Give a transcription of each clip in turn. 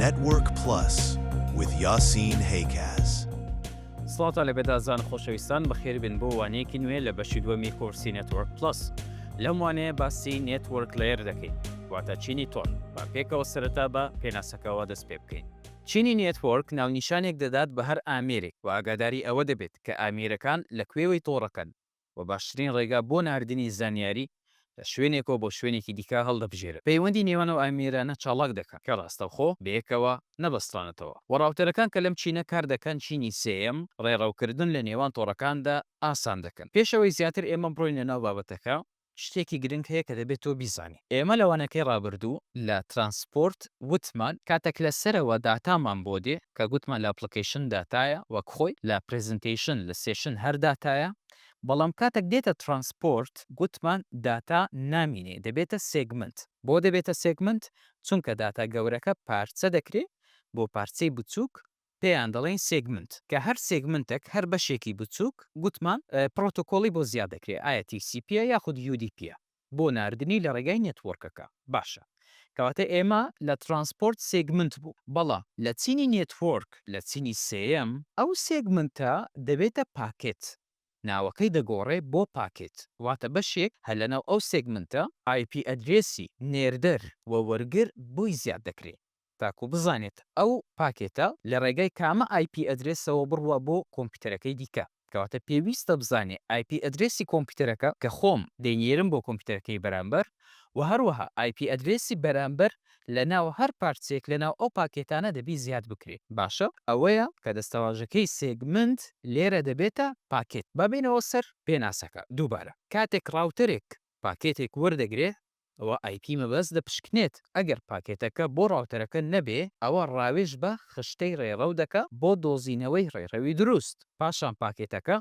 Network Plus with Yasin Haykaz. سڵاوتان لە بێدازان خۆشەویستان بەخێربن بۆ وانەیەکی نوێ لە بەشی دووەمی کۆرسی نێتۆرک پلس لەم وانەیە باسی نێتۆرک لەیەر دەکەین واتە چینی تۆن با پێکەوە سەرەتا بە پێناسەکەەوە دەست پێ بکەین چینی نێتۆرک ناونیشانێک دەدات بە هەر ئامێرێک و ئاگاداری ئەوە دەبێت کە ئامێرەکان لە کوێوەی تۆڕەکەن و باشترین ڕێگا بۆ ناردنی زانیاری لە شوێنێکەوە بۆ شوێنێکی دیکە هەڵدەبژێرن. پەیوەندی نێوان ئەو ئامێرانە چاڵاک دەکەن کە ڕاستەوخۆ بەیەکەوە نەبەسترانەتەوە، و ڕاوتەرەکان کە لەم چینە کار دەکەن چینی سێیەم، ڕێڕەوکردن لە نێوان تۆڕەکاندا ئاسان دەکەن. پێش ئەوەی زیاتر ئێمە بڕۆینە ناو بابەتەکە، شتێکی گرنگ هەیە کە دەبێت تۆ بیزانی. ئێمە لە وانەکەی ڕابردوو لە ترانسپۆرت وتمان کاتێک لە سەرەوە داتامان بۆ دێ، کە گوتمان لە ئەپڵکەیشن داتایە وەک خۆی، لە پرێزنتەیشن، لە سێشن هەر داتایە، بەڵام کاتێک دێتە ترانسپۆرت گوتمان داتا نامینێ دەبێتە سێگمنت، بۆ دەبێتە سێگمنت؟ چونکە داتا گەورەکە پارچە دەکرێ بۆ پارچەی بچووک پێیان دەڵێین سێگمنت، کە هەر سێگمنتێک هەر بەشێکی بچووک گوتمان پڕۆتۆکۆڵی بۆ زیا دەکرێ ئایا تی سی پییە یاخود یو دی پییە، بۆ ناردنی لە ڕێگای نێتوۆرکەکە باشە کەواتە ئێمە لە ترانسپۆرت سێگمنت بوو بەڵام لە چینی نێتوۆرک لە چینی سێیەم ئەو سێگمنتە دەبێتە پاکێت ناوەکەی دەگۆڕێ بۆ پاکێت واتە بەشێک هەر لەناو ئەو سێگمنتە ئای پی ئەدرێسی نێردەر و وەرگر بۆی زیاد دەکرێ تاکو بزانێت ئەو پاکێتە لە ڕێگای کامە ئای پی ئەدرێسەوە بڕوا بۆ کۆمپیوتەرەکەی دیکە. کەواتە پێویستە بزانێ ئای پی ئەدرێسی کۆمپیوتەرەکە کە خۆم دەینێرم بۆ کۆمپیوتەرەکەی بەرامبەر و هەروەها ئای پی ئەدرێسی بەرامبەر لە ناو هەر پارچەیەک لە ناو ئەو پاکێتانە دەبی زیاد بکرێ. باشە ئەوەیە کە دەستەواژەکەی سێگمنت لێرە دەبێتە پاکێت. با بێینەوە سەر پێناسەکە دووبارە. کاتێک ڕاوتەرێک پاکێتێک وەردەگرێ ئەوا ئای پی مەبەست دەپشکنێت ئەگەر پاکێتەکە بۆ ڕاوتەرەکە نەبێ ئەوا ڕاوێژ بە خشتەی ڕێڕەو دەکا بۆ دۆزینەوەی ڕێڕەوی دروست پاشان پاکێتەکە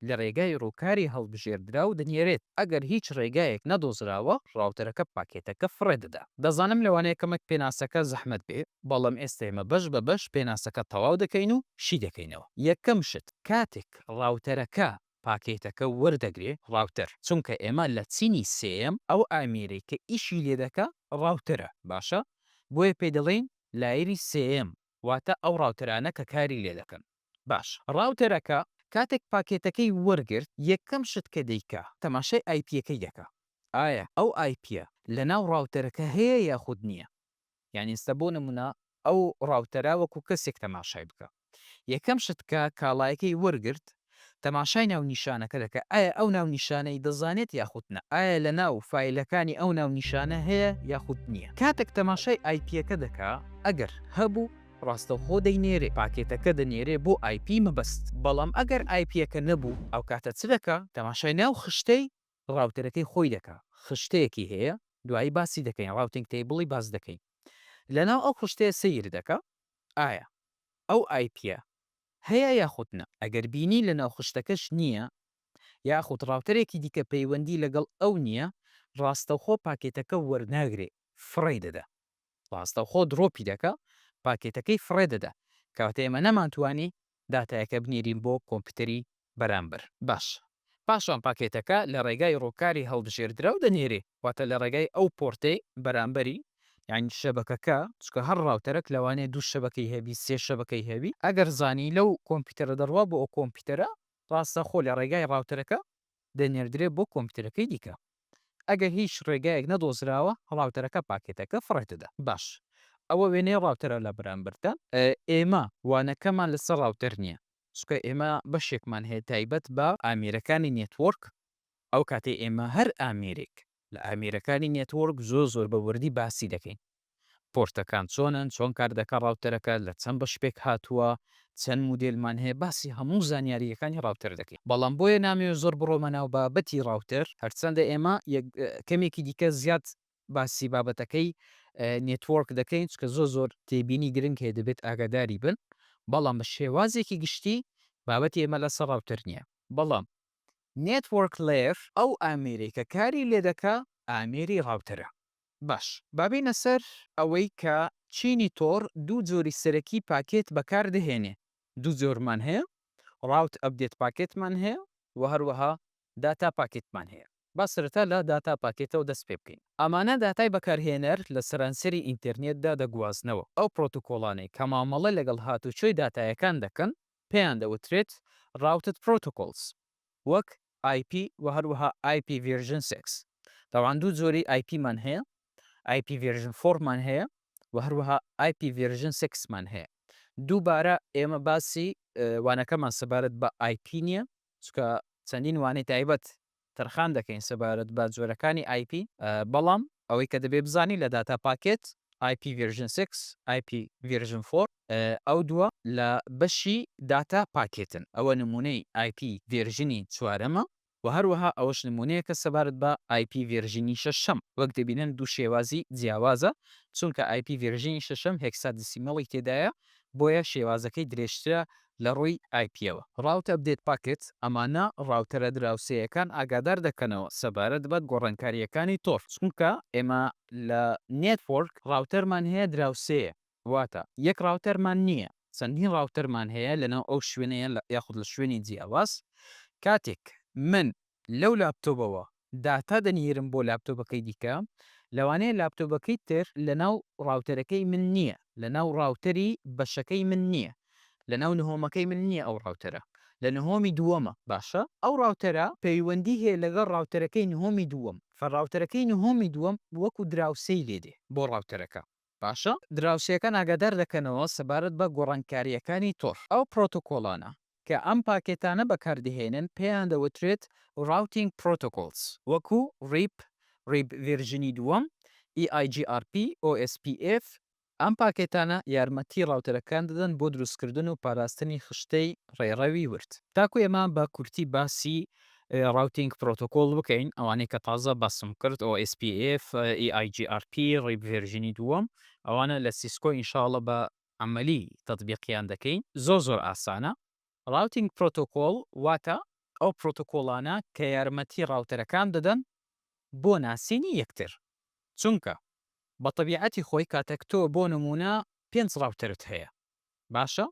لە ڕێگای ڕووکاری هەڵبژێردراو دەنێرێت ئەگەر هیچ ڕێگایەک نەدۆزراوە ڕاوتەرەکە پاکێتەکە فڕێ دەدا. دەزانم لەوانەیە کەمێک پێناسەکە زەحمەت بێ بەڵام ئێستە ئێمە بەش بە بەش پێناسەکە تەواو دەکەین و شی دەکەینەوە یەکەم شت کاتێک ڕاوتەرەکە پاکێتەکە وەردەگرێ ڕاوتەر چونکە ئێمە لە چینی سێیەم ئەو ئامێرەی کە ئیشی لێ دەکا ڕاوتەرە باشە بۆیە پێی دەڵێین لایەری سێیەم واتە ئەو ڕاوتەرانە کە کاری لێ دەکەن باشە ڕاوتەرەکە کاتێک پاکێتەکەی وەرگرت یەکەم شت کە دەیکا تەماشای ئایپیەکەی دەکا ئایا ئەو ئایپیە لەناو ڕاوتەرەکە هەیە یاخود نیە یانی ئستا بۆ نمونە ئەو ڕاوتەرە وەکو کەسێک تەماشای بکە یەکەم شت کە کاڵایەکەی وەرگرت تەماشای ناونیشانەکە دەکە ئایا ئەو ناونیشانەی دەزانێت یاخود نا ئایا لە ناو فایلەکانی ئەو ناونیشانە هەیە یاخود نیە کاتەک تەماشای ئایپیەکە دەکا ئەگەر هەبوو ڕاستەوخۆ دەینێرێ پاکێتەکە دەنێرێ بۆ ئایپی مەبەست بەڵام ئەگەر ئایپیەکە نەبوو ئەوکاتە چ دەکا تەماشای ناو خشتەی ڕاوتەرەکەی خۆی دەکا خشتەیەکی هەیە دوایی باسی دەکەین ڕاوتینگ تەیبڵی باس دەکەین لەناو ئەو خشتەیە سەیر دەکا ئایا ئەو ئای پیە هەیە یاخود نا ئەگەر بینی لەناو خشتەکەش نییە یاخود ڕاوتەرێکی دیکە پەیوەندی لەگەڵ ئەو نییە ڕاستەوخۆ پاکێتەکە وەرناگرێ فڕێی دەدا ڕاستەوخۆ دڕۆپی دەکا پاکێتەکەی فڕێ دەدا کەواتە ئێمە نەمانتوانی داتایەکە بنێرین بۆ کۆمپیوتەری بەرامبەر. باشە. پاشان پاکێتەکە لە ڕێگای ڕووکاری هەڵبژێردراو دەنێرێ، واتە لە ڕێگای ئەو پۆرتەی بەرامبەری، یانی شەبەکەکە، چونکە هەر ڕاوتەرەک لەوانەیە دوو شەبەکەی هەبی، سێ شەبەکەی هەبی، ئەگەر زانی لەو کۆمپیوتەرە دەڕوا بۆ ئەو کۆمپیوتەرە، ڕاستەخۆ لە ڕێگای ڕاوتەرەکە دەنێردرێت بۆ کۆمپیوتەرەکەی دیکە. ئەگەر هیچ ڕێگایەک نەدۆزراوە ڕاوتەرەکە پاکێتەکە فڕێدەدا. باش ئەوە وێنەی ڕاوتەرە لە بەرامبەردا. ئێمە وانەکەمان لەسەر ڕاوتەر نییە چونکە ئێمە بەشێکمان هەیە تایبەت بە ئامێرەکانی نێتوۆرک ئەو کاتەی ئێمە هەر ئامێرێک لە ئامێرەکانی نێتوۆرک زۆر زۆر بە وردی باسی دەکەین پۆرتەکان چۆنن چۆن کار دەکا ڕاوتەرەکە لە چەند بەش پێک هاتووە چەند مودێلمان هەیە باسی هەموو زانیارییەکانی ڕاوتەر دەکەین بەڵام بۆیە نامەوێ زۆر بڕۆمە ناو بابەتی ڕاوتەر هەرچەندە ئێمە کەمێکی دیکە زیاد باسی بابەتەکەی نێتوۆرک دەکەین چکە زۆر زۆر تێبینی گرنگ هەیە دەبێت ئاگاداری بن بەڵام بە شێوازێکی گشتی بابەتی ئێمە لەسەر ڕاوتەر نییە بەڵام نێتوۆرک لێر ئەو ئامێرەی کە کاری لێ دەکا ئامێری ڕاوتەرە. باش با بێینە سەر ئەوەی کە چینی تۆر دوو جۆری سەرەکی پاکێت بەکار دەهێنێ دوو جۆرمان هەیە ڕاوت ئەپدێت پاکێتمان هەیە و هەروەها داتا پاکێتمان هەیە با سەرەتا لە داتا پاکێتەوە دەست پێ بکەین ئەمانە داتای بەکارهێنەر لە سەرانسەری ئینتێرنێتدا دەگوازنەوە ئەو پڕۆتۆکۆڵانەی کە مامەڵە لەگەڵ هاتوچۆی داتایەکان دەکەن پێیان دەوترێت Routed Protocols وەک IP و هەروەها IP Version Six تەبعەن دوو جۆری IP مان هەیە IP Version Four مان هەیە و هەروەها IP Version Six مان هەیە دووبارە ئێمە باسی وانەکەمان سەبارەت بە IP نییە چونکە چەندین وانەی تایبەت تەرخان دەکەین سەبارەت بە جۆرەکانی ئای پی، بەڵام ئەوەی کە دەبێت بزانیت لە داتا پاکێت، ئای پی ڤێرژن سێکس، ئای پی ڤێرژن فۆر، ئەو دووە لە بەشی داتا پاکێتن، ئەوە نموونەی ئای پی ڤێرژنی چوارەمە و هەروەها ئەوەش نموونەیەکە سەبارەت بە ئای پی ڤێرژنی شەشەم، وەک دەبینن دوو شێوازی جیاوازە، چونکە ئای پی ڤێرژنی شەشەم هێکسادیسیمەڵی تێدایە، بۆیە شێوازەکەی درێژترە لە ڕووی ئایپیەوە. ڕاوت ئەپدەیت پاکێت، ئەمانە ڕاوتەرە دراوسێیەکان ئاگادار دەکەنەوە سەبارەت بە گۆڕانکارییەکانی تۆڕ، چونکە ئێمە لە نێتوۆرک ڕاوتەرمان هەیە دراوسێیە، واتە یەک ڕاوتەرمان نییە، چەندین ڕاوتەرمان هەیە لەناو ئەو شوێنە یاخود لە شوێنی جیاواز، کاتێک من لەو لاپتۆبەوە داتا دەنیرم بۆ لاپتۆبەکەی دیکە لەوانەیە لاپتۆبەکەی تر لەناو ڕاوتەرەکەی من نیە لەناو ڕاوتەری بەشەکەی من نیە لەناو نهۆمەکەی من نیە ئەو ڕاوتەرە لە نهۆمی دووەمە باشە ئەو ڕاوتەرە پەیوەندی هەیە لەگەڵ ڕاوتەرەکەی نهۆمی دووەم فە ڕاوتەرەکەی نهۆمی دووەم وەکو دراوسێی لێدێ بۆ ڕاوتەرەکە باشە؟ دراوسێکان ئاگادار دەکەنەوە سەبارەت بە گۆڕانکارییەکانی تۆڕ. ئەو پرۆتۆکۆڵانە کە ئەم پاکێتانە بەکاردەهێنن پێیان دەوترێت Routing Protocols، وەکوو ریپ، ریپ ڤێرژنی دووەم، EIGRP، OSPF. ئەم پاکێتانە یارمەتی ڕاوتەرەکان دەدەن بۆ دروستکردن و پاراستنی خشتەی ڕێڕەوی ورد. تاکوو ئێمە بە کورتی باسی ڕاوتینگ پرۆتۆکۆڵ بکەین ئەوانەی کە تازە باسم کرد OSPF، EIGRP، ڕیپ ڤێرژینی دووەم ئەوانە لە سیسکۆ ان شاء اللە بە عەمەلی تەتبیقیان دەکەین زۆر زۆر ئاسانە. ڕاوتینگ پرۆتۆکۆڵ واتە ئەو پرۆتۆکۆڵانە کە یارمەتی ڕاوتەرەکان دەدەن بۆ ناسینی یەکتر چونکە بە تەبیعەتی خۆی کاتەک تۆ بۆ نموونە پێنج ڕاوتەرت هەیە باشە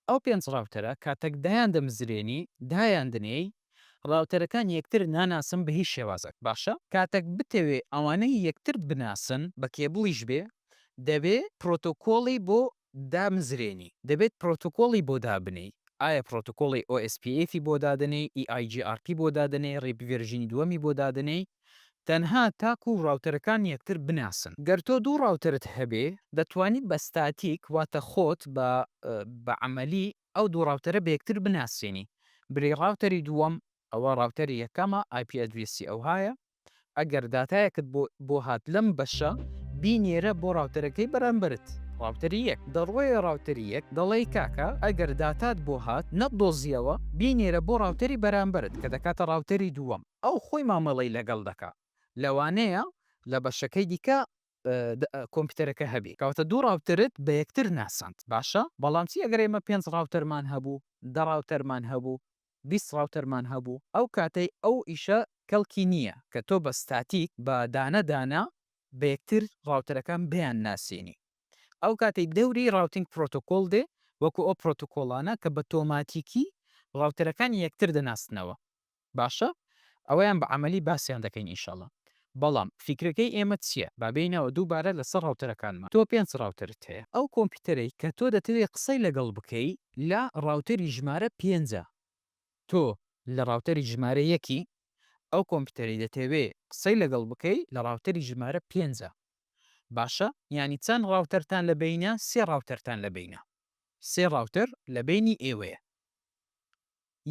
ئەو پێنج ڕاوتەرە کاتەک دایان دەمزرێنی دایان دەنێی ڕاوتەرەکان یەکتر ناناسن بە هیچ شێوازەک باشە کاتەک بتەوێ ئەوانەی یەکتر بناسن بە کێبڵیش بێ دەبێ پرۆتۆکۆڵی بۆ دامزرێنی دەبێت پرۆتۆکۆڵی بۆ دابنێی ئایا پرۆتۆکۆڵی OSPF ی بۆ دادەنێی EIGRP بۆ دادەنێی ڕیپ ڤێرژینی دووەمی بۆ دادەنێی تەنها تاکو ڕاوتەرەکان یەکتر بناسن. گەر تۆ دوو ڕاوتەرت هەبێ دەتوانی بە ستاتیک واتە خۆت بە بە عەمەلی ئەو دوو ڕاوتەرە بەیەکتر بناسێنی بلی ڕاوتەری دووەم ئەوە ڕاوتەری یەکەمە ئای پی ئەدرێسی ئەوهایە ئەگەر داتایەکت بۆ بۆ هات لەم بەشە بینێرە بۆ ڕاوتەرەکەی بەرامبەرت ڕاوتەری یەک دەڕۆیە ڕاوتەری یەک دەڵێی کاکە ئەگەر داتات بۆ هات نەتدۆزیەوە بینێرە بۆ ڕاوتەری بەرامبەرت کە دەکاتە ڕاوتەری دووەم. ئەو خۆی مامەڵەی لەگەڵ دەکات لەوانەیە لە بەشەکەی دیکە کۆمپیوتەرەکە هەبێت کەواتە دوو ڕاوتەرت بە یەکتر ناساند باشە بەڵام چی ئەگەر ئێمە پێنج ڕاوتەرمان هەبوو دە ڕاوتەرمان هەبوو بیست ڕاوتەرمان هەبوو ئەو کاتەی ئەو ئیشە کەڵکی نییە کە تۆ بە ستاتیک بە دانە دانە بە یەکتر ڕاوتەرەکان بیان ناسێنی ئەو کاتەی دەوری ڕاوتینگ پرۆتۆکۆڵ دێ وەکو ئەو پرۆتۆکۆڵانە کە بە تۆماتیکی ڕاوتەرەکانی یەکتر دەناسنەوە باشە ئەوەیان بە عەمەلی باسیان دەکەین ئینشەڵا بەڵام فیکرەکەی ئێمە چیە با بێینەوە دووبارە لەسەر ڕاوتەرەکانمان تۆ پێنج ڕاوتەرت هەیە ئەو کۆمپیوتەرەی کە تۆ دەتەوێ قسەی لەگەڵ بکەی لە ڕاوتەری ژمارە پێنجە تۆ لە ڕاوتەری ژمارە یەکی ئەو کۆمپیوتەرەی دەتەوێ قسەی لەگەڵ بکەی لە ڕاوتەری ژمارە پێنجە باشە یانی چەند ڕاوتەرتان لە بەینە سێ ڕاوتەرتان لە بەینە سێ ڕاوتەر لە بەینی ئێوەیە.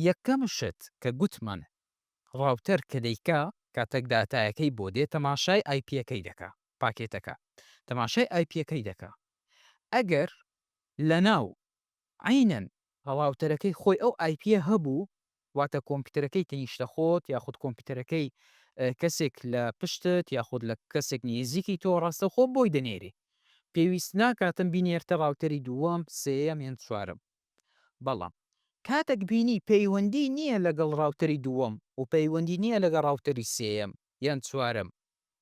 یەکەم شت کە گوتمان ڕاوتەر کە دەیکا کاتەک داتایەکەی بۆ دێ تەماشای ئایپیەکەی دەکا پاکێتەکە تەماشای ئایپیەکەی دەکا ئەگەر لەناو عەینەن ڕاوتەرەکەی خۆی ئەو ئایپیە هەبوو واتە کۆمپیوتەرەکەی تەنیشتە خۆت یاخود کۆمپیوتەرەکەی کەسێک لە پشتت یاخود لە کەسێک نیزیکی تۆ ڕاستەوخۆ بۆی دەنێری پێویست ناکاتم بینێرتە ڕاوتەری دووەم سێیەم یان چوارەم بەڵام کاتەک بینی پەیوەندی نیە لەگەڵ ڕاوتەری دووەم و پەیوەندی نیە لەگە ڕاوتەری سێیەم یان چوارەم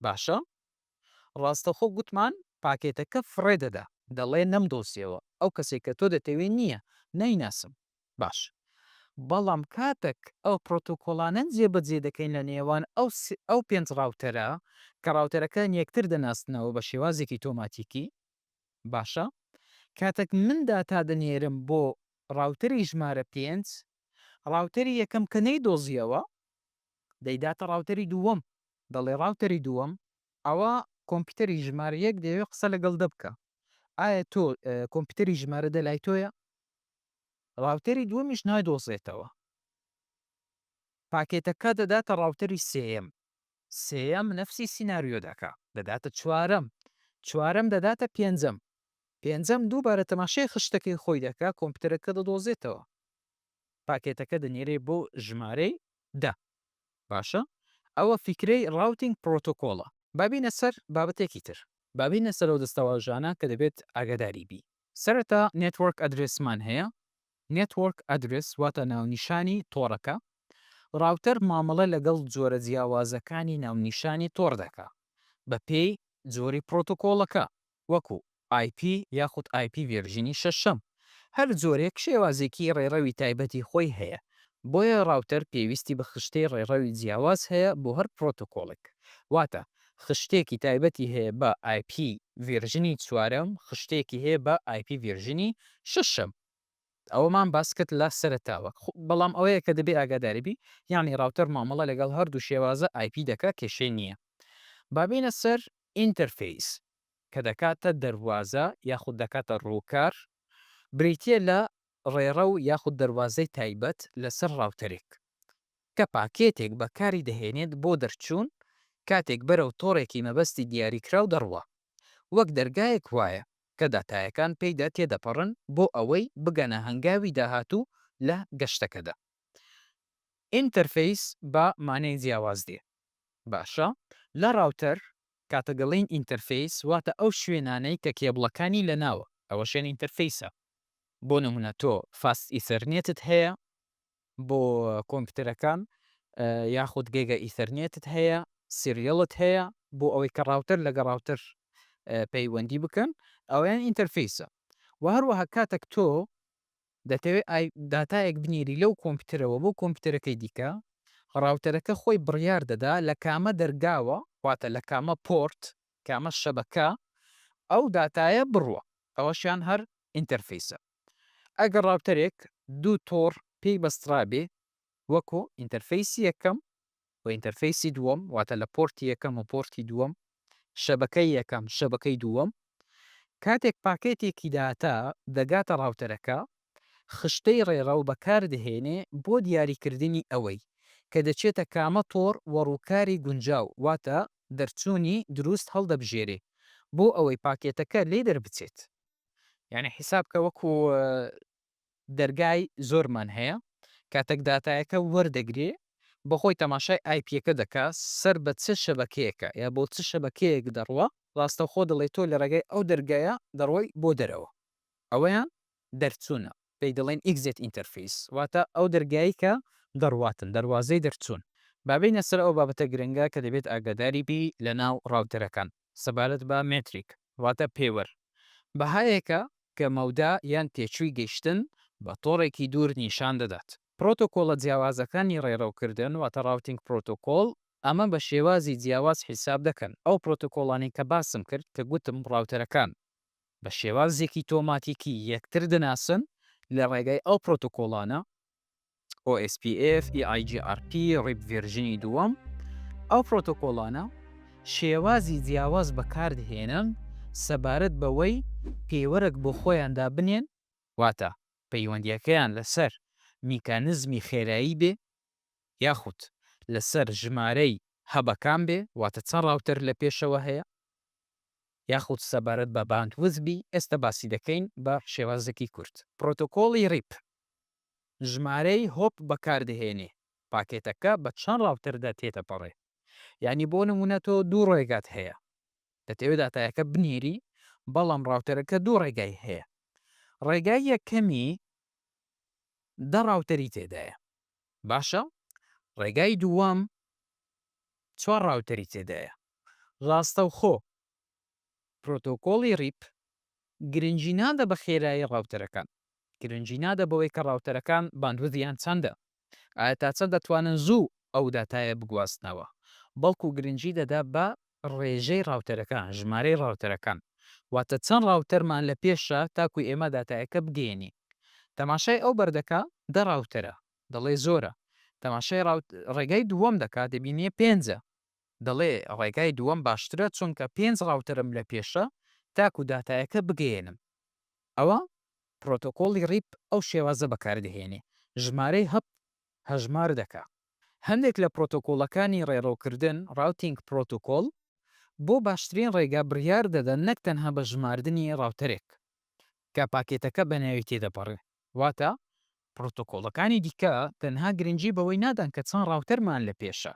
باشە ڕاستەخۆ گوتمان پاکێتەکە فڕێ دەدا. دەڵێ نەمدۆزیەوە ئەو کەسەی کە تۆ دەتەوێ نیە نایناسم باشە بەڵام کاتەک ئەو پڕۆتۆکۆڵانەن جێ بەجێ دەکەین لە نێوان ئەو پێنج ڕاوتەرە کە ڕاوتەرەکان یەکتر دەناسنەوە بە شێوازێکی تۆماتیکی باشە کاتەک من داتا دەنێرم بۆ ڕاوتەری ژمارە پێنج ڕاوتەری یەکەم کە نەیدۆزیەوە دەیداتە ڕاوتەری دووەم دەڵێ ڕاوتەری دووەم ئەوا کۆمپیوتەری ژمارە یەک دەیەوێ قسە لەگەڵ دە بکا ئایا تۆ کۆمپیوتەری ژمارە دە لای تۆیە ڕاوتەری دووەمیش نایدۆزێتەوە پاکێتەکە دەداتە ڕاوتەری سێیەم سێیەم نەفسی سیناریۆ دەکا دەداتە چوارەم چوارەم دەداتە پێنجەم پێنجەم دووبارە تەماشای خشتەکەی خۆی دەکا کۆمپیوتەرەکە دەدۆزێتەوە پاکێتەکە دەنێرێ بۆ ژمارەی دە باشە ئەوە فیکرەی ڕاوتینگ پرۆتۆکۆڵە با بینە سەر بابەتێکی تر با بینە سەر ئەو دەستەواژانە کە دەبێت ئاگاداری بی سەرەتا نێتوۆرک ئەدرێسمان هەیە Network Address واتە ناونیشانی تۆڕەکە، ڕاوتەر مامەڵە لەگەڵ جۆرە جیاوازەکانی ناونیشانی تۆڕ دەکا بەپێی جۆری پڕۆتۆکۆڵەکە وەکو IP یاخود IP ڤێرژینی شەشەم، هەر جۆرێک شێوازێکی ڕێڕەوی تایبەتی خۆی هەیە، بۆیە ڕاوتەر پێویستی بە خشتەی ڕێڕەوی جیاواز هەیە بۆ هەر پڕۆتۆکۆڵێک، واتە خشتێکی تایبەتی هەیە بە IP ڤێرژنی چوارەم، خشتێکی هەیە بە IP ڤێرژنی شەشەم. ئەوەمان باس کرد لە سەرەتاوە. بەڵام ئەوەیە کە دەبێ ئاگاداری بی یانی ڕاوتەر مامەڵە لەگەڵ هەردوو شێوازە ئای پی دەکا کێشەی نییە. با بێینە سەر ئینتەرفەیس کە دەکاتە دەروازە یاخود دەکاتە ڕووکار بریتییە لە ڕێڕەو یاخود دەروازەی تایبەت لەسەر ڕاوتەرێک کە پاکێتێک بەکاری دەهێنێت بۆ دەرچوون کاتێک بەرەو تۆڕێکی مەبەستی دیاریکراو دەڕوا وەک دەرگایەک وایە کە داتایەکان پێیدا تێدەپەڕن بۆ ئەوەی بگەنە هەنگاوی داهاتوو لە گەشتەکەدا. ئینتەرفەیس بە مانای جیاواز دێ باشە لە ڕاوتەر کاتەگەڵێین ئینتەرفەیس واتە ئەو شوێنانەی کە کێبڵەکانی لەناوە ئەوەشیان ئینتەرفەیسە بۆ نمونە تۆ فاست ئیثەرنێتت هەیە بۆ کۆمپیوتەرەکان یاخود گێگە ئیثەرنێتت هەیە سیریەڵت هەیە بۆ ئەوەی کە ڕاوتەر لەگە ڕاوتەر پەیوەندی بکەن ئەویان ئینتەرفیسە و هەروەها کاتەک تۆ دەتەوێت داتایەک بنێری لەو کۆمپیوتەرەوە بۆ کۆمپیوتەرەکەی دیکە ڕاوتەرەکە خۆی بڕیار دەدا لە کامە دەرگاوە واتە لە کامە پۆرت کامە شەبەکە ئەو داتایە بڕوە ئەوەشیان هەر ئینتەرفیسە ئەگەر ڕاوتەرێک دوو تۆڕ پێی بەسترابێ وەکو ئینتەرفەیسی یەکەم و ئینتەرفەیسی دووەم واتە لە پۆرتی یەکەم و پۆرتی دووەم شەبەکەی یەکەم شەبەکەی دووەم کاتێک پاکێتێکی داتا دەگاتە ڕاوتەرەکە خشتەی ڕێڕەو بەکاردەهێنێ بۆ دیاریکردنی ئەوەی کە دەچێتە کامە تۆڕ وە ڕووکاری گونجاو واتە دەرچوونی دروست هەڵدەبژێرێ بۆ ئەوەی پاکێتەکە لێی دەربچێت. یانی حیساب کە وەکو دەرگای زۆرمان هەیە کاتەک داتایەکە وەردەگرێ بەخۆی تەماشای ئایپیەکە دەکا سەر بە چ شەبەکەیەکە یا بۆ چ شەبەکەیەک دەڕوا ڕاستەوخۆ دەڵێ تۆ لە ڕێگای ئەو دەرگایە دەڕۆی بۆ دەرەوە ئەوەیان دەرچوونە پێی دەڵێن ئیکزێت ئینتەرفیس واتە ئەو دەرگایی کە دەڕواتن دەروازەی دەرچوون با بێینە سەر ئەو بابەتە گرنگە کە دەبێت ئاگاداری بی لە ناو ڕاوتەرەکان. سەبارەت بە مێتریک واتە پێوەر، بەهایەکە کە مەودا یان تێچووی گەیشتن بە تۆڕێکی دوور نیشان دەدات. پرۆتۆکۆڵە جیاوازەکانی ڕێڕەوکردن واتە ڕاوتینگ پرۆتۆکۆڵ ئەمە بە شێوازی جیاواز حیساب دەکەن، ئەو پرۆتۆکۆڵانەی کە باسم کرد کە گوتم ڕاوتەرەکان بە شێوازێکی تۆماتیکی یەکتر دەناسن لە ڕێگای ئەو پرۆتۆکۆڵانە OSPF، EIGRP، ڕیپ ڤێرژنی دووەم، ئەو پرۆتۆکۆڵانە شێوازی جیاواز بەکاردهێنن سەبارەت بەوەی پێوەرەک بۆ خۆیان دابنێن، واتە پەیوەندییەکەیان لەسەر میکانزمی خێرایی بێ یاخود لەسەر ژمارەی هەبەکان بێ، واتە چەند ڕاوتەر لە پێشەوە هەیە، یاخود سەبارەت بە باندویدز بی، ئێستا باسی دەکەین بە شێوازێکی کورت. پرۆتۆکۆڵی ڕیپ ژمارەی هۆپ بەکاردەهێنێ پاکێتەکە بە چەند ڕاوتەردا تێدەپەڕێ یانی بۆ نموونە تۆ دوو ڕێگات هەیە دەتەوێ داتایەکە بنێری بەڵام ڕاوتەرەکە دوو ڕێگای هەیە ڕێگای یەکەمی دە ڕاوتەری تێدایە باشە ڕێگای دووەم چوار ڕاوتەری تێدایە ڕاستەوخۆ پرۆتۆکۆڵی ریپ گرنگی نادە بە خێرایی ڕاوتەرەکان، گرنگی نادە بەوەی کە ڕاوتەرەکان باندویدیان چەندە، ئایا تا چەند دەتوانن زوو ئەو داتایە بگوازنەوە، بەڵکو گرنگی دەدا بە ڕێژەی ڕاوتەرەکان، ژمارەی ڕاوتەرەکان، واتە چەند ڕاوتەرمان لە پێشە تاکو ئێمە داتایەکە بگەیەنین. تەماشای ئەو بەر دەکا، دە ڕاوتەرە، دەڵێ زۆرە، تەماشای ڕێگای دووەم دەکا، دەبینێ پێنجە. دەڵێ ڕێگای دووەم باشترە چونکە پێنج ڕاوتەرم لە پێشە تاکو داتایەکە بگەیەنم ئەوە پرۆتۆکۆڵی ریپ ئەو شێوازە بەکار دەهێنێ ژمارەی هەپ هەژمار دەکا هەندێک لە پرۆتۆکۆڵەکانی ڕێڕەو کردن Routing Protocol بۆ باشترین ڕێگا بڕیار دەدەن نەک تەنها بە ژماردنی ڕاوتەرێک کە پاکێتەکە بە ناوی تێدەپەڕێ واتە پڕۆتۆکۆڵەکانی دیکە تەنها گرنگی بەوەی نادەن کە چەند ڕاوتەرمان لە پێشە،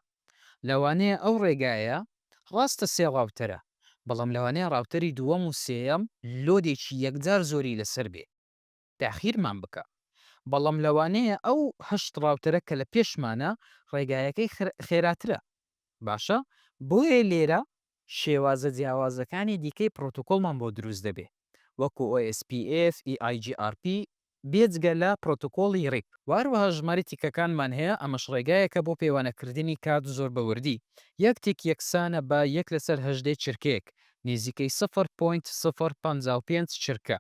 لەوانەیە ئەو ڕێگایە، ڕاستە سێ ڕاوتەرە، بەڵام لەوانەیە ڕاوتەری دووەم و سێیەم لۆدێکی یەکجار زۆری لەسەر بێ، تاخیرمان بکا، بەڵام لەوانەیە ئەو هەشت ڕاوتەرە کە لە پێشمانە ڕێگایەکەی خێراترە، باشە بۆیە لێرە شێوازە جیاوازەکانی دیکەی پڕۆتۆکۆڵمان بۆ دروست دەبێ، وەکو OSPF، EIGRP، بێجگە لە پرۆتۆکۆڵی ڕیپ. و هەروەها ژمارەی تیکەکانمان هەیە، ئەمەش ڕێگایەکە بۆ پێوانەکردنی کات زۆر بە وردی، یەک تیک یەکسانە بە یەک لەسەر هەژدەی چرکەیەک، نیزیکەی سفر پۆینت سفر پەنجا و پێنج چرکە.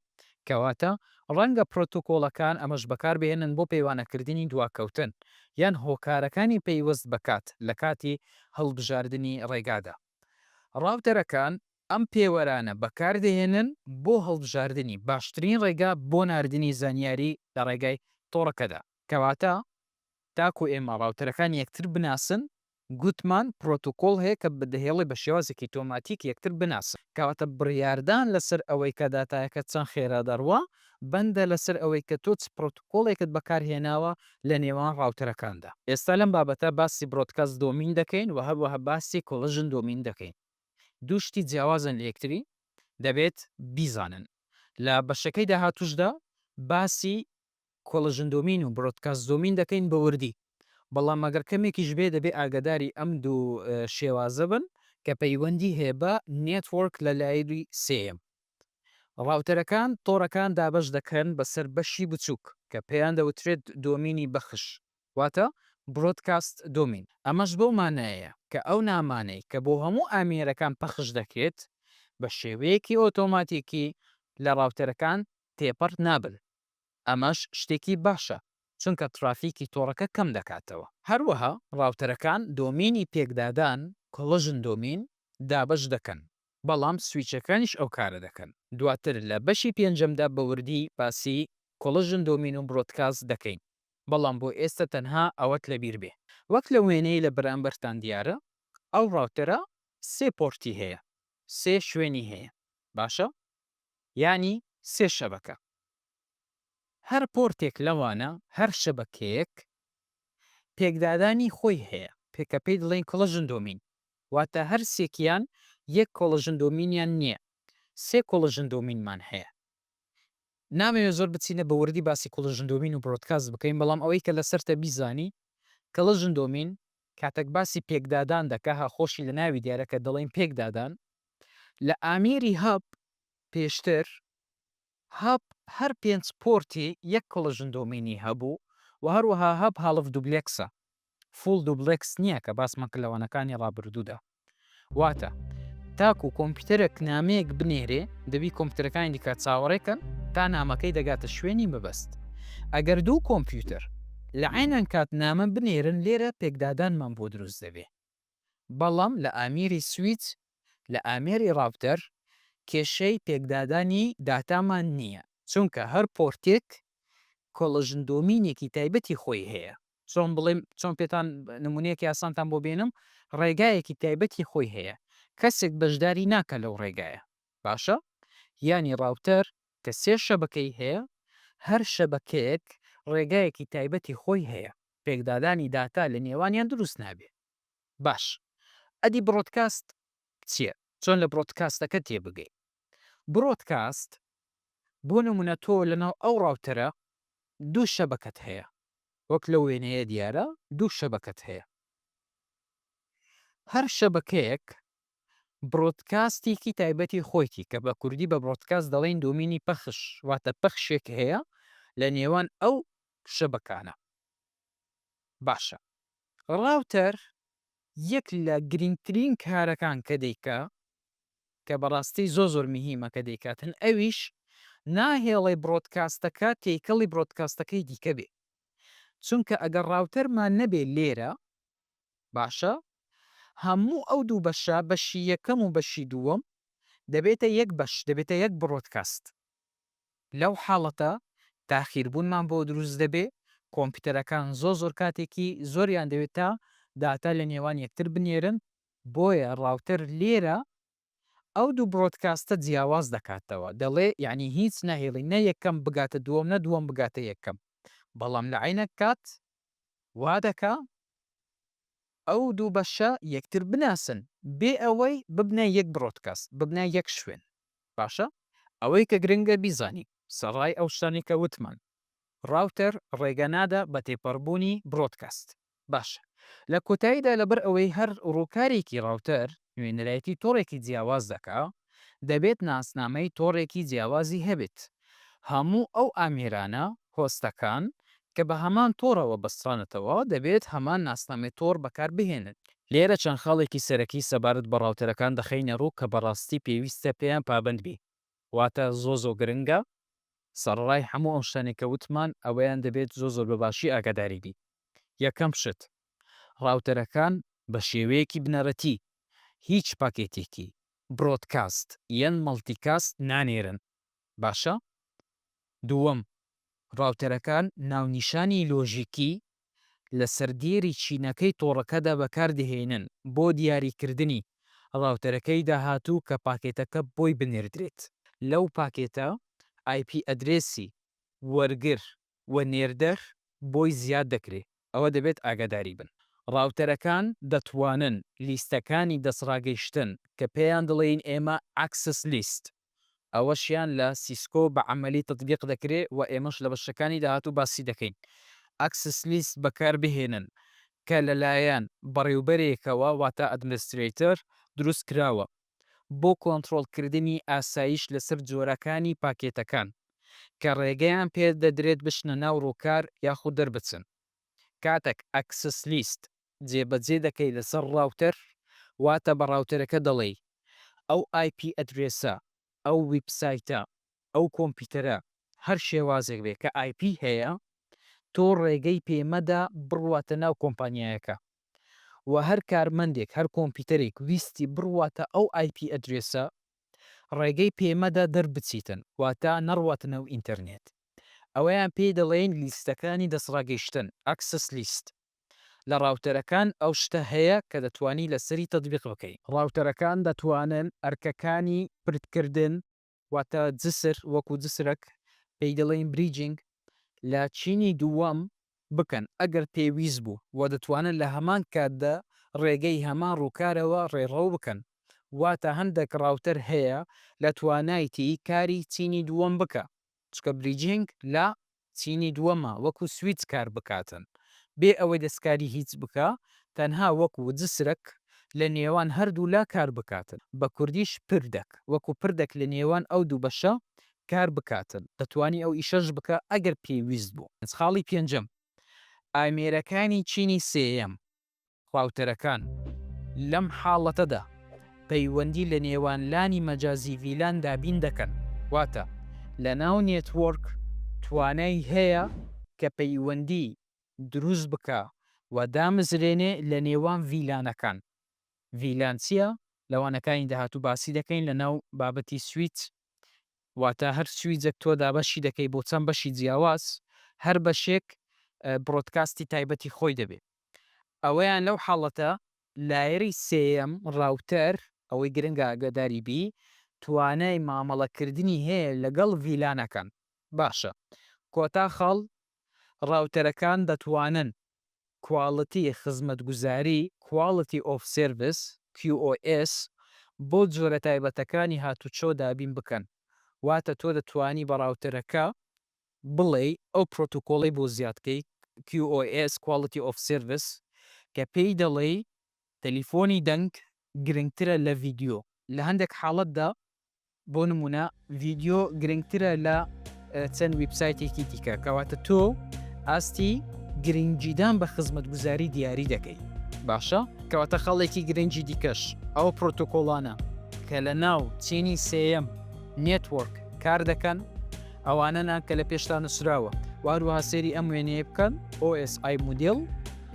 کەواتە ڕەنگە پرۆتۆکۆڵەکان ئەمەش بەکاربهێنن بۆ پێوانەکردنی دواکەوتن یان هۆکارەکانی پەیوەست بە کات لە کاتی هەڵبژاردنی ڕێگادا. ڕاوتەرەکان ئەم پێوەرانە بەکاردەهێنن بۆ هەڵبژاردنی باشترین ڕێگا بۆ ناردنی زانیاری لە ڕێگای تۆڕەکەدا. کەواتە تاکو ئێمە ڕاوتەرەکان یەکتر بناسن، گوتمان پرۆتوکۆڵ هەیە کە دەهێڵێ بە شێوازێکی ئۆتۆماتیک یەکتر بناسن. کەواتە بڕیاردان لەسەر ئەوەی کە داتایەکە چەند خێرا دەڕوا، بەندە لەسەر ئەوەی کە تۆ چ پرۆتوکۆڵێکت بەکارهێناوە لە نێوان ڕاوتەرەکاندا. ئێستا لەم بابەتە باسی برۆدکاست دۆمین دەکەین و هەروەها باسی کۆلژن دۆمین دەکەین. دوو شتی جیاوازن لە یەکتری دەبێت بیزانن. لە بەشەکەی داهاتووشدا باسی کۆڵژن دۆمین و برۆدکاست دۆمین دەکەین بە وردی، بەڵام ئەگەر کەمێکیش بێت دەبێت ئاگاداری ئەم دوو شێوازە بن کە پەیوەندی هەیە بە نێتوۆرک لە لایری سێیەم. ڕاوتەرەکان تۆڕەکان دابەش دەکەن بەسەر بەشی بچووک کە پێیان دەوترێت دۆمینی بەخش. واتە Broadcast Domain، ئەمەش بەو مانایەیە کە ئەو نامانەی کە بۆ هەموو ئامێرەکان پەخش دەکرێت بە شێوەیەکی ئۆتۆماتیکی لە ڕاوتەرەکان تێپەڕ نابن، ئەمەش شتێکی باشە چونکە ترافیکی تۆڕەکە کەم دەکاتەوە. هەروەها ڕاوتەرەکان دۆمینی پێکدادان، Collision Domain، دابەش دەکەن، بەڵام سویچەکانیش ئەو کارە دەکەن، دواتر لە بەشی پێنجەمدا بە وردی باسی Collision Domain و Broadcast دەکەین. بەڵام بۆ ئێستە تەنها ئەوەت لەبیر بێ. وەک لەو وێنەی لە بەرامبەرتان دیارە ئەو ڕاوتەرە سێ پۆرتی هەیە سێ شوێنی هەیە باشە یانی سێ شەبەکە هەر پۆرتێک لەوانە هەر شەبەکەیەک پێکدادانی خۆی هەیە پێکە پێی دڵێن کڵژن دۆمین واتە هەر سێکیان یەک کۆڵژن دۆمینیان نیە سێ کۆڵژن دۆمینمان هەیە نامەوێ زۆر بچینە بە وردی باسی کوڵژن دۆمین و برۆدکاست بکەین بەڵام ئەوەی کە لەسەرتە بیزانی کڵژن دۆمین کاتەک باسی پێکدادان دەکا ها خۆشی لە ناوی دیارە کە دەڵێین پێکدادان لە ئامیری هەب پێشتر هەب هەر پێنج پۆرتی یەک کڵژن دۆمینی هەبوو و هەروەها هەب هاڵف دوبلێکسە فوڵ دوبڵێکس نییە کە باسمان کرد لە وانەکانی ڕابردوودا واتە تاکو کۆمپیوتەرێک نامەیەک بنێرێ دەبی کۆمپیوتەرەکانی دیکە چاوەڕێکەن تا نامەکەی دەگاتە شوێنی مەبەست ئەگەر دوو کۆمپیوتەر لە عینەن کات نامە بنێرن لێرە پێکدادانمان بۆ دروست دەبێ بەڵام لە ئامیری سویت لە ئامێری ڕاپتەر کێشەی پێکدادانی داتامان نییە چونکە هەر پۆرتێک کۆڵژن دۆمینێکی تایبەتی خۆی هەیە چۆن بڵێم، چۆن پێتان نموونەیەکی ئاسانتان بۆ بێنم، ڕێگایەکی تایبەتی خۆی هەیە، کەسێک بەشداری ناکا لەو ڕێگایە، باشە؟ یانی ڕاوتەر کە سێ شەبەکەی هەیە، هەر شەبەکەیەک ڕێگایەکی تایبەتی خۆی هەیە، پێکدادانی داتا لە نێوانیان دروست نابێ. باش، ئەدی بڕۆدکاست چییە؟ چۆن لە بڕۆدکاستەکە تێ بگەین؟ بڕۆدکاست، بۆ نموونە تۆ لەناو ئەو ڕاوتەرە دوو شەبەکەت هەیە، وەک لەو وێنەیە دیارە دوو شەبەکەت هەیە هەر شەبەکەیەک برۆدکاستێکی تایبەتی خۆیتی کە بە کوردی بە برۆدکاست دەڵێن دۆمینی پەخش واتە پەخشێک هەیە لە نێوان ئەو شەبەکانە باشە ڕاوتەر یەک لە گرنگترین کارەکان کە دەیکا کە بەڕاستی زۆر زۆر مهیمە کە دەیکاتن ئەویش ناهێڵێ برۆدکاستەکە تێکەڵی برۆدکاستەکەی دیکە بێ چونکە ئەگەر ڕاوتەرمان نەبێ لێرە باشە هەموو ئەو دوو بەشە بەشی یەکەم و بەشی دووەم دەبێتە یەک بەش دەبێتە یەک برۆدکاست لەو حاڵەتە تاخیربوونمان بۆ دروست دەبێ کۆمپیوتەرەکان زۆر زۆر کاتێکی زۆریان دەوێت تا داتا لە نێوان یەکتر بنێرن بۆیە ڕاوتەر لێرە ئەو دوو برۆدکاستە جیاواز دەکاتەوە دەڵێ یەعنی هیچ ناهێڵی نە یەکەم بگاتە دووەم نە دووەم بگاتە یەکەم بەڵام لە عەینەک کات وا دەکا ئەو دوو بەشە یەکتر بناسن بێ ئەوەی ببنە یەک برۆدکاست ببنە یەک شوێن باشە ئەوەی کە گرنگە بیزانی سەڕای ئەو شتانەی کە وتمان ڕاوتەر ڕێگە نادا بە تێپەڕبوونی برۆدکاست. باشە لە کۆتاییدا لەبەر ئەوەی هەر ڕووکارێکی ڕاوتەر نوێنەرایەتی تۆڕێکی جیاواز دەکا دەبێت ناسنامەی تۆڕێکی جیاوازی هەبێت هەموو ئەو ئامێرانە، هۆستەکان، کە بە هەمان تۆڕەوە بەسترانەتەوە دەبێت هەمان ناسنامەی تۆڕ بەکار بهێنن. لێرە چەند خاڵێکی سەرەکی سەبارەت بە ڕاوتەرەکان دەخەینە ڕوو کە بەڕاستی پێویستە پێیان پابەند بین. واتە زۆر زۆر گرنگە سەڕەڕای هەموو ئەو شتانەی کە وتمان ئەوەیان دەبێت زۆر زۆر بە باشی ئاگاداری بین یەکەم شت ڕاوتەرەکان بە شێوەیەکی بنەرەتی هیچ پاکێتێکی برۆدکاست یان مەڵتی کاست نانێرن باشە دووەم ڕاوتەرەکان ناونیشانی لۆژیکی لەسەر دێری چینەکەی تۆڕەکەدا بەکاردەهێنن بۆ دیاریکردنی ڕاوتەرەکەی داهاتوو کە پاکێتەکە بۆی بنێردرێت. لەو پاکێتە ئای پی ئەدرێسی وەرگر و نێردەر بۆی زیاد دەکرێت، ئەوە دەبێت ئاگاداری بن. ڕاوتەرەکان دەتوانن لیستەکانی دەستڕاگەیشتن کە پێیان دەڵێین ئێمە ئەکسس لیست، ئەوەشیان لە سیسکۆ بە عەمەلی تەتبیق دەکرێ و ئێمەش لە بەشەکانی داهاتوو باسی دەکەین. ئەکسس لیست بەکار بهێنن کە لەلایەن بەڕێوبەرێکەوە واتە ئەدمنسترەیتەر دروست کراوە بۆ کۆنترۆڵ کردنی ئاسایش لەسەر جۆرەکانی پاکێتەکان کە ڕێگەیان پێ دەدرێت بچنە ناو ڕووکار یاخود دەربچن. کاتەک ئەکسس لیست جێبەجێ دەکەی لەسەر ڕاوتەر واتە بە ڕاوتەرەکە دەڵێی ئەو ئایپی ئەدرێسە، ئەو ویب سایتە، ئەو کۆمپیوتەرە هەر شێوازێک بێ کە ئایپی هەیە تۆ ڕێگەی پێ مەدە بڕواتە ناو کۆمپانیایەکە وە هەر کارمەندێک هەر کۆمپیوتەرێک ویستی بڕواتە ئەو ئایپی ئەدرێسە ڕێگەی پێ مەدە دەربچیتن واتە نەڕواتنەو ئینتەرنێت. ئەوەیان پێی دەڵێین لیستەکانی دەستڕاگەیشتن، Access List. لە ڕاوتەرەکان ئەو شتە هەیە کە دەتوانی لەسەری تەتبیق بکەی. ڕاوتەرەکان دەتوانن ئەرکەکانی پردکردن، واتە جسر وەکو جسرەک پێی دەڵێین Bridging، لە چینی دووەم بکەن ئەگەر پێویست بوو و دەتوانن لە هەمان کاتدا ڕێگەی هەمان ڕووکارەوە ڕێڕەو بکەن. واتە هەندێک ڕاوتەر هەیە لە توانایتی کاری چینی دووەم بکا چونکە بریجینگ لە چینی دووەمە وەکو سویچ کار بکاتن بێ ئەوەی دەستکاری هیچ بکا تەنها وەک وجسرک لە نێوان هەردوو لا کار بکاتن بە کوردیش پردەک وەکو پردەک لە نێوان ئەو دوو بەشە کار بکاتن دەتوانی ئەو ئیشەش بکا ئەگەر پێویست بوو. خاڵی پێنجەم ئامێرەکانی چینی سێیەم خواوترەکان. لەم حاڵەتەدا پەیوەندی لە نێوان لانی مەجازی ڤیلان دابین دەکەن، واتە لەناو نێتوۆرک توانای هەیە کە پەیوەندی دروست بکا و دامزرێنێ لە نێوان ڤیلانەکان. ڤیلان چیە؟ لە وانەکانی داهاتوو باسی دەکەین لە ناو بابەتی سویچ، واتە هەر سویجەک تۆ دابەشی دەکەی بۆ چەند بەشی جیاواز، هەر بەشێک برۆدکاستی تایبەتی خۆی دەبێ. ئەوەیان لەو حاڵەتە لایەری سێیەم، راوتەر، ئەوەی گرنگە ئاگاداری بی توانای مامەڵە کردنی هەیە لەگەڵ ڤیلانەکان باشە کۆتا خاڵ راوتەرەکان دەتوانن کواڵتی خزمەتگوزاری Quality of Service QoS بۆ جۆرە تایبەتەکانی هاتوچۆ دابین بکەن واتە تۆ دەتوانی بە راوتەرەکە بڵێی ئەو پرۆتۆکۆڵەی بۆ زیادکەی، QoS، Quality of Service، کە پێی دەڵێی تەلیفۆنی دەنگ گرنگترە لە ڤیدیۆ، لە هەندێک حاڵەتدا بۆ نموونە ڤیدیۆ گرنگترە لە چەند ویبسایتێکی دیکە، کەواتە تۆ ئاستی گرنگیدان بە خزمەتگوزاری دیاری دەکەی. باشە کەواتە خاڵێکی گرنگی دیکەش ئەو پرۆتۆکۆڵانە کە لەناو چینی سێیەم، Network، کاردەکەن، ئەوانەنان کە لە پێشتان نووسراوە و هەروەها سەیری ئەم وێنەیە بکەن OSI مودێل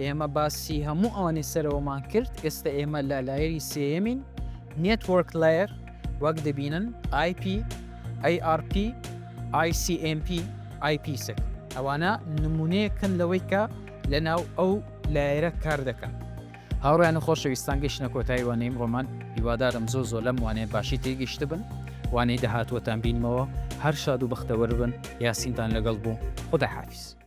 ئێمە باسی هەموو ئەوانەی سەرەوەمان کرد ئێستا ئێمە لە لایەری سێەمین نێتوەرک لایر وەک دەبینن IP ARP ICMP IP سک ئەوانە نمونەیەکن لەوەی کە لە ناو ئەو لایەرە کار دەکەن هاوڕێیان و خۆشەویستان گەیشتنە کۆتایی وانەی ئمڕۆمان هیوادارم زۆر زۆر لەم وانەیە باشی تێگەیشتبن وانەی داهاتووتان بینمەوە هەر شاد و بەختەوەربن یاسینتان لەگەڵ بوو خوداحافیز.